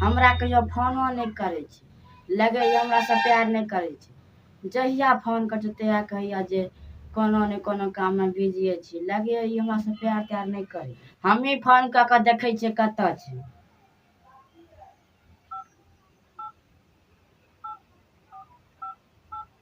हमरा कहियो फोनो नहि करै छै लगैए हमरासँ प्यार नहि करै छै जहिया फोन करै छै तहिया कहैया जे कोनो ने कोनो काममे बिजिए छी लगैए ई हमरासँ प्यार त्यार नहि करै हमही फोन कऽ कऽ देखै छियै कतऽ छै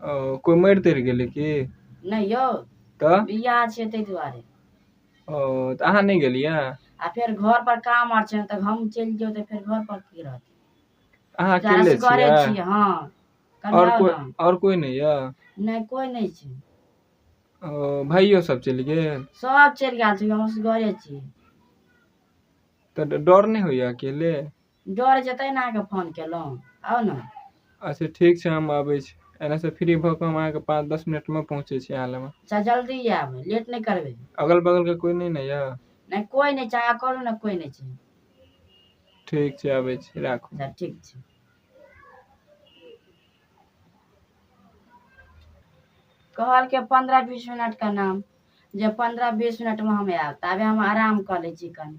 ओ कोइ मरि तरि गेलै की नहि यौ तऽ बियाह छै ताहि दुआरे ओ तऽ अहाँ नहि गेलियै आ फेर घर पर काम आर छै तऽ हम चलि जेबै तऽ फेर घर पर की रहतै अहाँ जारा अकेले सिकरे छियै छियै हँ कनि आओर आउ कोइ ने आओर कोइ नहि यऽ नहि कोइ नहि छै ओ भाइयो सब चलि गेल सब चलि गेल छै हम असगरे छी तऽ डर नहि होइया अकेले डर जेतै ने अहाँके फोन केलहुँ आउ ने अच्छा ठीक छै हम अबै छी एनेसँ फ्री भऽ कऽ हम अहाँके पाँच दस मिनटमे पहुँचै छी अहाँ लगमे अच्छा जल्दी आयब लेट नहि करबै अगल बगलके कोइ नहि ने यऽ नहि कोइ नहि छै अहाँ कहलहुँ ने कोइ नहि छै ठीक छै अबै छी राखू अच्छा ठीक छै कहलकै पंद्रह बीस मिनट का नाम जे पंद्रह बीस मिनट में हम आयब ताबे हम आराम कऽ लै छी कनि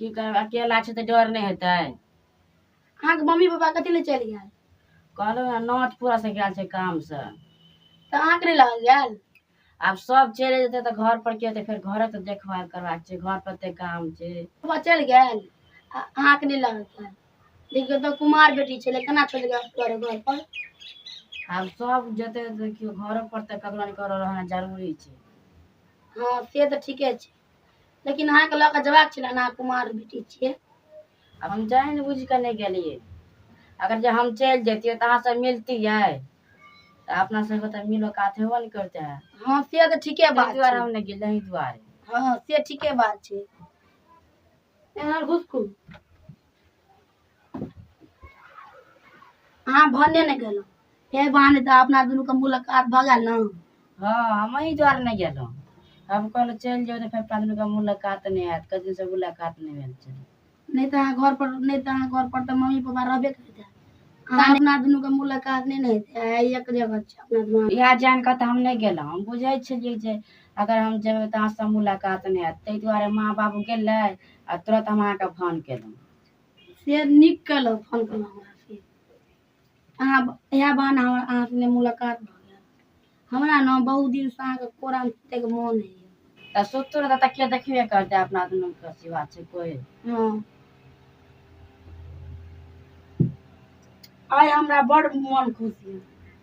की करब अकेला छै तऽ डर नहि हेतै अहाँके मम्मी पापा कथी लए चलि गेल कहलहुँ हेँ नौत पूरा से गेल छै कामसँ तऽ अहाँके नहि लऽ गेल आब सब चलि जेतै तऽ घर पर के तऽ फेर घरे तऽ देखभाल करबाक छै घर पर ते काम छै पापा चलि गेल आ अहाँके नहि लऽ गेल देखियौ तऽ कुमार बेटी छलै केना चलि गेल तोरे घर पर आब सब जेतै तऽ देखियौ घरो पर तऽ ककरो ने ककरो रहना जरूरी छै हँ से तऽ ठीके छै लेकिन अहाँके लऽ कऽ जबाक छलै अहाँ कुमार बेटी छियै आब हम जानि बुझि कऽ नहि गेलियै अगर जे हम चलि जैतियै तऽ अहाँसँ मिलतियै तऽ अपना सबके तऽ मिलो कात हेबो नहि करते है हँ से तऽ ठीके बात ताहि दुआरे हम नहि गेलियै एहि दुआरे हँ से ठीके बात छै एना घुसखू अहाँ भन्ने नहि गेलहुँ फेर बहाने तऽ अपना दुनूके मुलाकात भऽ गेल ने हँ हमही दुआरे नहि गेलहुँ हम कहलहुँ चलि जाउ तऽ फेर अपना दुनूके मुलाकात नहि हैत कतेक दिनसँ मुलाकात नहि भेल छै नहि तऽ अहाँ घर पर नहि तऽ अहाँ घर पर तऽ मम्मी पापा रहबे करते अहाँ अपना दुनू के मुलाकात नहि ने हेतै आइ एक जगह छै अपना दुनू इएह जानि कऽ तऽ हम नहि गेलहुँ हम बुझै छलियै जे अगर हम जेबै तऽ अहाँसँ मुलाकात नहि हैत ताहि दुआरे माँ बाबू गेलै आ तुरन्त हम अहाँके फोन केलहुँ से नीक केलहुँ फोन केलहुँ हमरा से अहाँ इएह बहाना हमर अहाँ सङ्गे मुलाकात भऽ गेल हमरा ने बहुत दिनसँ अहाँके कोरामे सुतैके मोन होइए तऽ सुतू ने तऽ तकिया देखबे करतै अपना दुनूके सिवा छै कोइ हँ आइ हमरा बड़ मोन खुश यए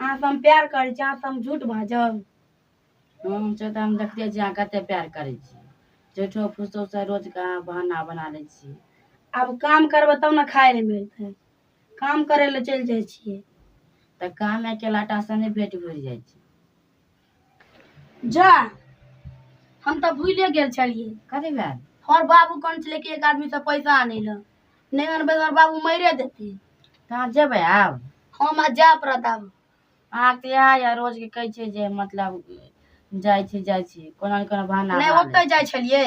अहाँ से हम प्यार करै छी अहाँ से हम झूठ बाजब हम छै तऽ हम देखते छी अहाँ कते प्यार करै छी झूठो फूसो से रोज के अहाँ बहाना बना लै छी आब काम करबै तब ने खाय लए मिलतै काम करै लए चलि जाइ छियै तऽ काम अकेला टा से नहि पेट भरि जाइ छै जा हम तऽ भूले गेल छलियै कथी भेल हर बाबू कौन छलै कि एक आदमी से पैसा आने ला नहीं अनबै तो हर बाबू मरे देते कहाँ जेबै आब हम आज जा पड़त आब अहाँ तऽ इएह यऽ रोज के कहै छियै जे मतलब जाइ छी जाइ छी कोनो ने कोनो बहाना नहीं बना ओतै जाइ छलियै